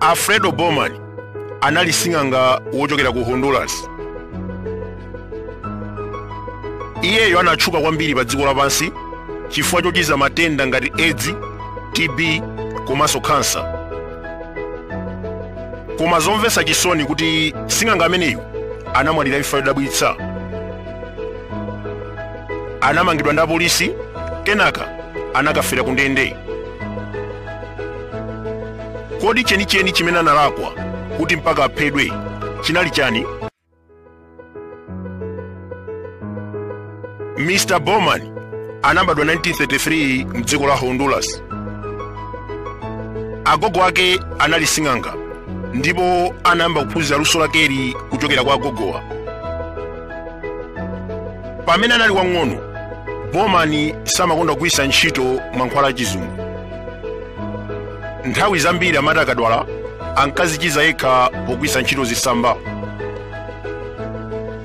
alfredo bowman anali sing'anga wochokera ku honduras iyeyo anatchuka kwambiri pa dziko lapansi chifukwa chochiza matenda ngati edzi tb komanso khansa koma zomvetsa chisoni nkuti sing'anga ameneyu anamwalira imfa yodabwitsa anamangidwa ndi apolisi kenaka anakafera ku ndende Kodi chenicheni chimene analakwa kuti mpaka aphedwe chinali chani? Mr. Bowman anabadwa 1933 mdziko la Honduras. Agogo ake anali sing'anga ndipo anayamba kuphunzira luso lakeli kuchokera kwa agogowa. pamene anali wang'ono bowman samakonda kugwiritsa ntchito mankhwala achizungu nthawi zambiri amati akadwala ankazichiza yekha pogwiritsa ntchito zisamba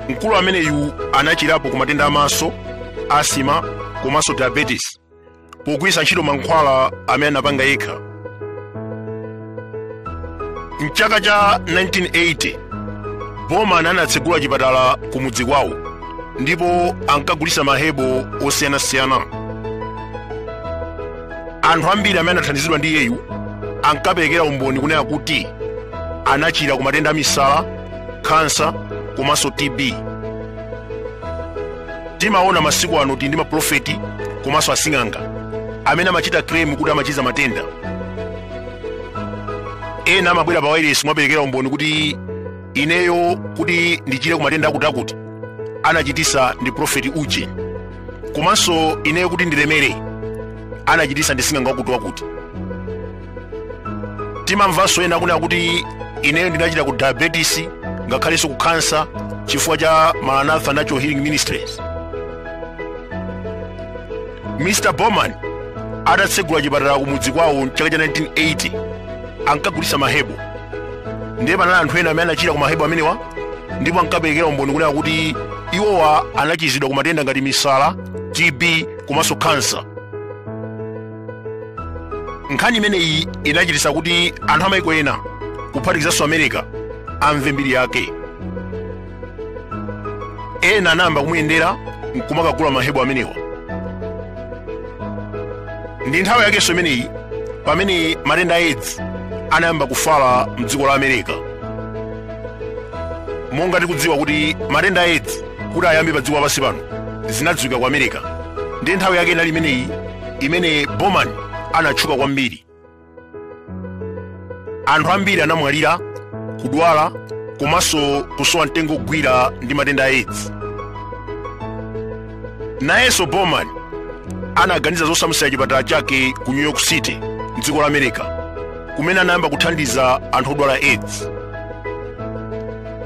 mkulu ameneyu anachirapo ku matenda amaso asthma komanso diabetes pogwiritsa ntchito mankhwala amene anapanga yekha mchaka cha 1980 bowman anatsegula chipatala ku mudzi kwawo ndipo ankagulitsa mahebo osiyanasiyana anthu ambiri amene anathandizidwa ndi iyeyu ankaperekera umboni kunena kuti anachira ku matenda a misala khansa komanso tb timaona masiku ano tili ndi maprofeti komanso asing'anga amene amachita kremu kuti amachiza matenda ena amabwera pa wairesi nkumaperekera umboni kuti ineyo kuti ndichire ku matenda akutiakuti anachitisa ndi profeti uje komanso ineyo kuti ndilemere anachitisa ndi sing'anga wakuti wakuti timamvanso ena kunena kuti ineyo ndinachira ku diabetes ngakhalenso ku khansa chifukwa cha maranatha natural healing ministries mr bowman atatsegula chipatala kumudzi kwawo mchaka cha 1980 ankagulitsa mahebo ndiye panali anthu ena amene anachira ku mahebo amenewa ndipo ankaperekera umboni kunena kuti iwowa anachizidwa ku matenda ngati misala tb komanso khansa nkhani imeneyi inachititsa kuti anthu amaiko ena kuphatikizanso america amve mbiri yake ena anayamba kumuyendera nkumakagula mahebo amenewa ndi nthawi yakenso imeneyi pamene matenda a edzi anayamba kufala mdziko la america monga tikudziwa kuti matenda a edzi kuti ayambe pa dziko lapansi pano zinadziwika ku america ndi nthawi yake inali imeneyi imene Bowman anatchuka kwambiri. Anthu ambiri anamwalira, kudwala komanso kusowa mtengo wogwirira ndi matenda a aids. Nayenso Bowman anaganiza zosamutsira chipatala chake ku New York City m'dziko la America kumene anayamba kuthandiza anthu odwala aids.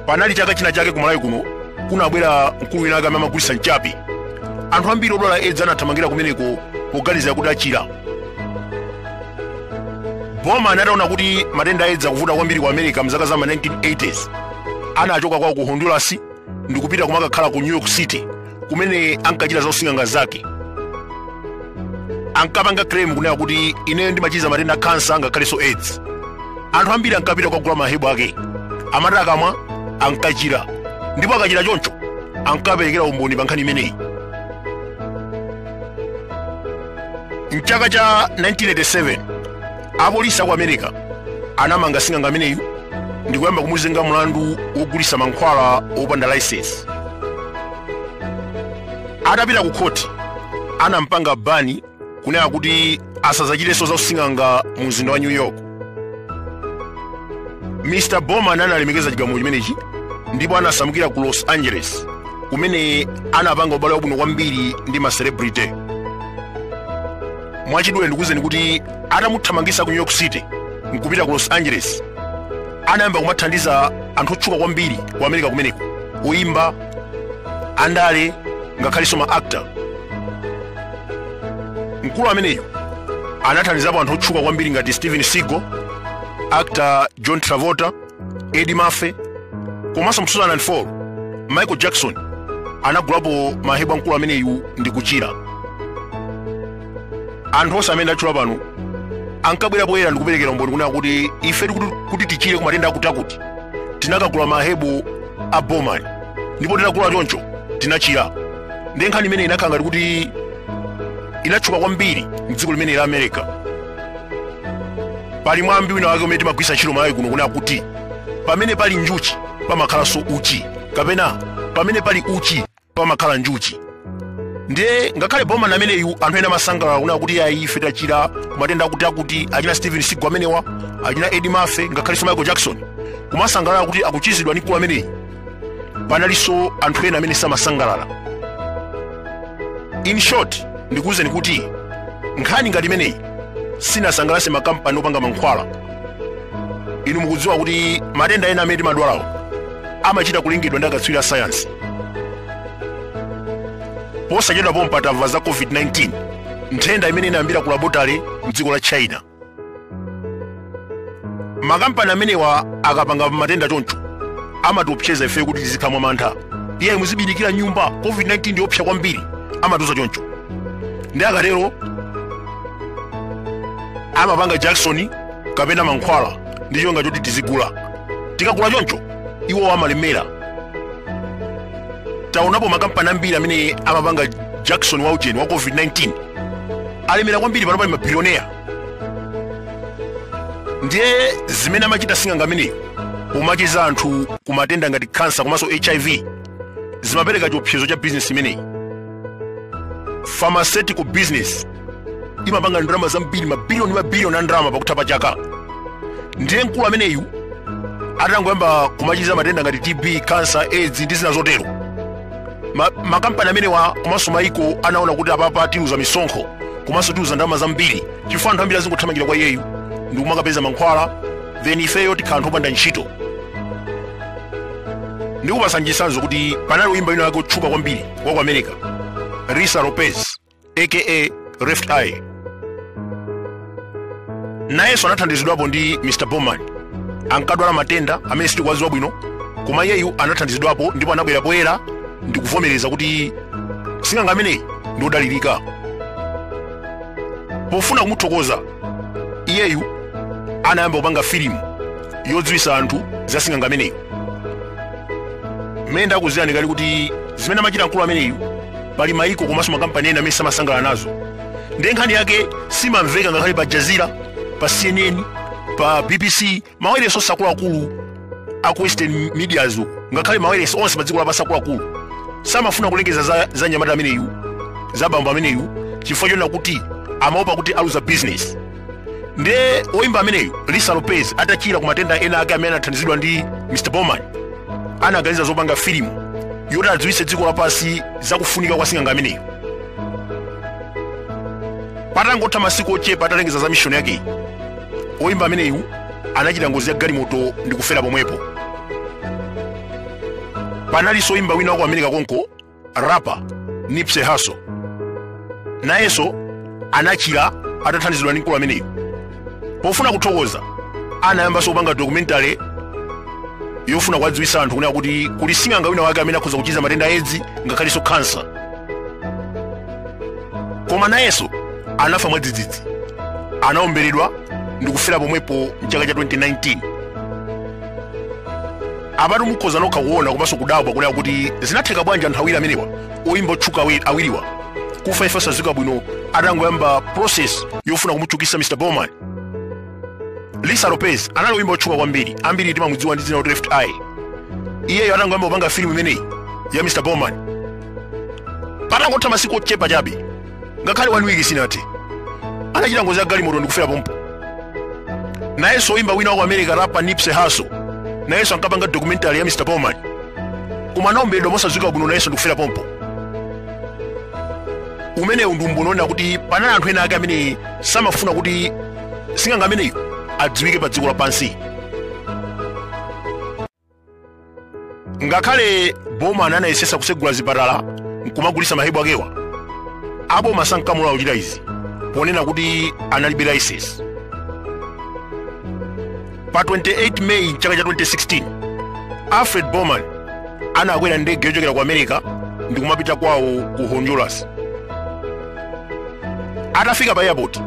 Panali chaka china chake ku Malawi kuno kunabwera mkulu wina amene amagulitsa mchape anthu ambiri odwala edzi anathamangira kumeneko poganiza kuti achira bowman ataona kuti matenda a edzi akuvuta kwambiri ku america mzaka za ma 1980s anachoka kwawo ku honduras ndikupita kumakakhala ku new york city kumene ankachita za using'anga zake ankapanga claim kunena kuti ineyo ndimachiza matenda a kansa ngakhalenso aids anthu ambiri ankapita kukagula mahebu ake amati akamwa ankachira ndipo akachira choncho ankaperekera umboni pa nkhani imeneyi mchaka cha 1987 apolisi aku america anamanga sing'anga ameneyu ndikuyamba kumuzenga mlandu wogulitsa mankhwala opanda license Atapita ku khoti, anam'panga bani kunena kuti asadzachitenso za using'anga mu mzinda wa New York. Mr. Bowman analemekeza chigamulo chimenechi ndipo anasamukira ku Los Angeles kumene anapanga ubale wabwino kwambiri ndi ma celebrity. Mwachidule ndikuwuzeni kuti atamuthamangitsa ku New York City n'kupita ku Los Angeles, anayamba kumathandiza anthu otchuka kwambiri ku America kumeneko, oyimba, andale ngakhalenso ma actor mkulu ameneyu anathandizapo anthu otchuka kwambiri ngati steven seagal actor john travolta eddie murphy komanso mu 2004 michael jackson anagulapo mahebu a mkulu ameneyu ndi kuchira anthu onse amene ndatchula pano ankabwera poyera ndi kuperekera umboni kunena kuti ife kuti tichire ku matenda akuti akuti tinakagula mahebu a bowman ndipo titagula choncho tinachira nde nkhani imene inakhala ngati kuti inatchuka kwambiri mdziko limeneli la america pali mwambi wina wake umene timagwiritsa ntchito kumalawi kuno kunena kuti pamene pali njuchi pamakhalanso uchi kapena pamene pali uchi pamakhala njuchi ndiye ngakhale bowman ameneyu anthu ena amasangalala kunena kuti ayi ife tachira kumatenda akuti akuti achina steven seagal amenewa achina eddie murphy ngakhalenso michael jackson kumasangalala kuti akuchizidwa ndi mkulu ameneyi panalinso anthu ena amene samasangalala in short ndikuwuzeni kuti nkhani ngati imeneyi sinasangalatse makampani opanga mankhwala inu mukudziwa kuti matenda ena amene timadwalawo amachita kulengedwa ndi akatswiri a sayansi posachedwa pompa tamva za covid-19 nthenda imene inayambira ku labotale mdziko la china makampani amenewa akapanga matenda choncho amatiopseza ife kuti tizikhala mwa mantha iye muzibindikira nyumba covid-19 ndiyopsa kwambiri amatiuza choncho nde akatero amapanga jakisoni kapena mankhwala ndi cholinga choti tizigula tikagula choncho iwo amalemera taonapo makampani ambiri amene amapanga jakisoni wa ujeni wa covid-19 alemera kwambiri pano pali mabilioneya ndiye zimene amachita sing'anga ameneyi pomachiza anthu kumatenda ngati kansa komanso hiv zimapereka chiopsezo cha bizinesi imeneyi pharmaceutical business imapanga ndalama zambiri mabiliyoni mabiliyoni a ndalama pakutha pa chaka ndiye mkulu ameneyu atangoyamba kumachiza matenda ngati tb kansa aids ndi zina zotero makampani amenewa komanso maiko anaona kuti apapa tiluza misonkho komanso tiluza ndalama zambiri chifukwa anthu ambiri azingothamangira kwa iyeyu ndikumakapeza mankhwala then ifeyo tikhala anthu opanda ntchito ndikupatsani chitsanzo kuti panali oyimba wina wake wotchuka kwambiri wa ku america lisa lopez aka left eye nayenso anathandizidwapo ndi mr bowman ankadwala matenda amene sitikuwadziwa bwino koma iyeyu anathandizidwapo ndipo anabwera poyera ndi kuvomereza kuti sing'anga ameneyi ndi odalirika pofuna kumuthokoza iyeyu anayamba kupanga filimu yodziwitsa anthu za sing'anga ameneyi mmene ndakuuzirani kale kuti zimene amachita mkulu ameneyu pali maiko komanso makampani ena amene samasangala nazo ndiye nkhani yake simamveka ngakhale pa jazira pa cnn pa bbc mawailesi onse akuluakulu aku western medias uku ngakhale mawailesi onse pa dziko lapansi akuluakulu samafuna kulengeza za, za nyamata ameneyu za bambo ameneyu chifukwa chonena kuti amaopa kuti aluza business ndiye woyimba ameneyu lisa lopez atachira ku matenda ena ake amene anathandizidwa ndi mr bowman anaganiza zopanga filimu yoti adziwitse dziko lapansi za kufunika kwa sing'anga ameneyu patangotha masiku ochepa atalengeza za mishoni yakeyi oyimba ameneyu anachita ngozi ya galimoto ndi kufera pomwepo panalinso oyimba wina waku america konko rapper nipsey hussle nayenso anachira atathandizidwa ndi mkulu ameneyu pofuna kuthokoza anayambanso kupanga documentary yofuna kuwadziwitsa anthu kunena kuti kuli sing'anga wina wake amene akhoza kuchiza matenda a edzi ngakhalenso kansa koma nayenso anafa mwadzidzidzi anaomberedwa ndi kufera pomwepo mchaka cha 2019 apatu mukhoza nokha kuona komanso kudabwa kunena kuti zinatheka bwanji anthu awiri amenewa oyimba otchuka awiriwa kufa imfa yosadziwika bwino atangoyamba process yofuna kumutchukitsa mr bowman lisa lopez anali oyimba otchuka kwambiri ambiri timamudziwa ndi dzina loti left eye iyeyo atangoyamba kupanga filimu imeneyi ya mr bowman patangotha masiku ochepa chabe ngakhale one week sinathe anachita ngozi ya galimoto ndikufera pompo nayenso oyimba wina wa ku america rapper nipsey hussle nayenso ankapanga documentary ya mr bowman koma anaomberedwa mosadziwika bwino nayenso ndikufera pompo umenewu ndi umboni onena kuti panali anthu ena ake amene samafuna kuti sing'anga ameneyu adziwike pa dziko lapansi ngakhale bowman anayesetsa kutsegula zipatala nkumagulitsa mahebu akewa aboma sankamulola kuchita izi ponena kuti analibe laisensi pa 28 meyi mchaka cha 2016 alfred bowman anakwera ndege yochokera ku america ndi kumapita kwawo ku honduras atafika pa airport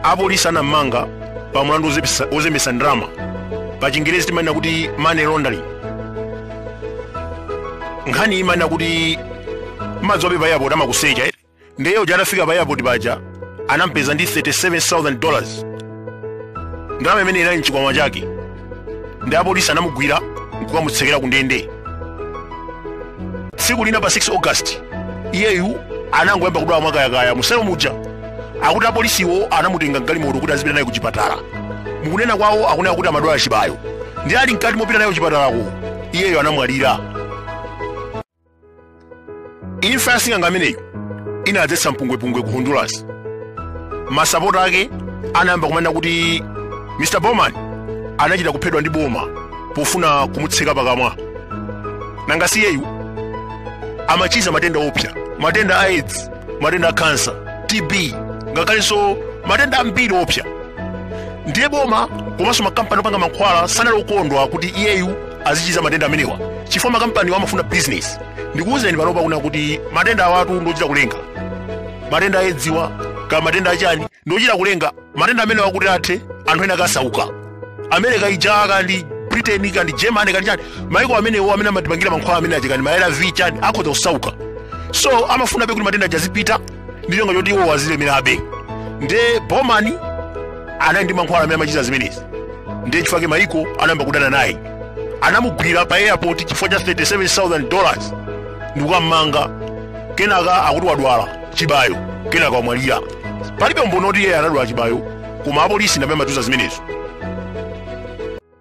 apolisi anammanga pa mlandu wozembetsa ndalama pa chingerezi timanena kuti money laundering nkhani imanena kuti mudziwe pa airport amakusecha ere nde uja atafika pa airport paja anampeza ndi 37000 dollars ndalama imene inali mchikwama chake nde apolisi anamugwira nkukamutsekera ku ndende tsiku lina pa 6 august iyeyu anangoyamba kudwala mwakayakaya muselo muja akuti apolisiwo anamutenga mgalimoto kuti azipita naye ku chipatala mukunena kwawo akunena kuti amadwala chibayo nde ali mkati mopita naye ku chipatalako iyeyo anamwalira imfa ya sing'anga ameneyu inadzetsa mpungwepungwe ku honduras masapota ake anayamba kumanena kuti mr bowman anachita kuphedwa ndi boma pofuna kumutseka pakamwa nanga si iyeyu amachiza matenda oopsa matenda a aids matenda a kansa tb ngakhalenso matenda ambiri oopsa ndiye boma komanso makampani opanga mankhwala sanali okondwa kuti iyeyu azichiza matenda amenewa chifukwa makampani amafuna business ndikuwuzeni panopa kunena kuti matendawatu ndochita kulenga matenda a edziwa kaya matenda achani ndochita kulenga matenda amenewa kuti athe anthu ena akasauke america ija kaya ndi britain kaya ndi germany kaya ndi chani maiko amenewo amene amatipangira mankhwala amene aja kaya ndi ma arv chani akhoza kusauka so amafunabe kuti matenda aja azipitilira ndi cholinga choti iwo azilemerabe nde bowman anali ndi mankhwala amene amachiza zimenezi ndiye chifukwa chake maiko anayamba kudana naye anamugwira pa airport chifukwa cha 37000 dollars ndikukammanga kenaka akuti wadwala chibayo kenaka wamwalira palibe umboni oti iye anadwala chibayo koma apolisi ndamene amatiuza zimenezo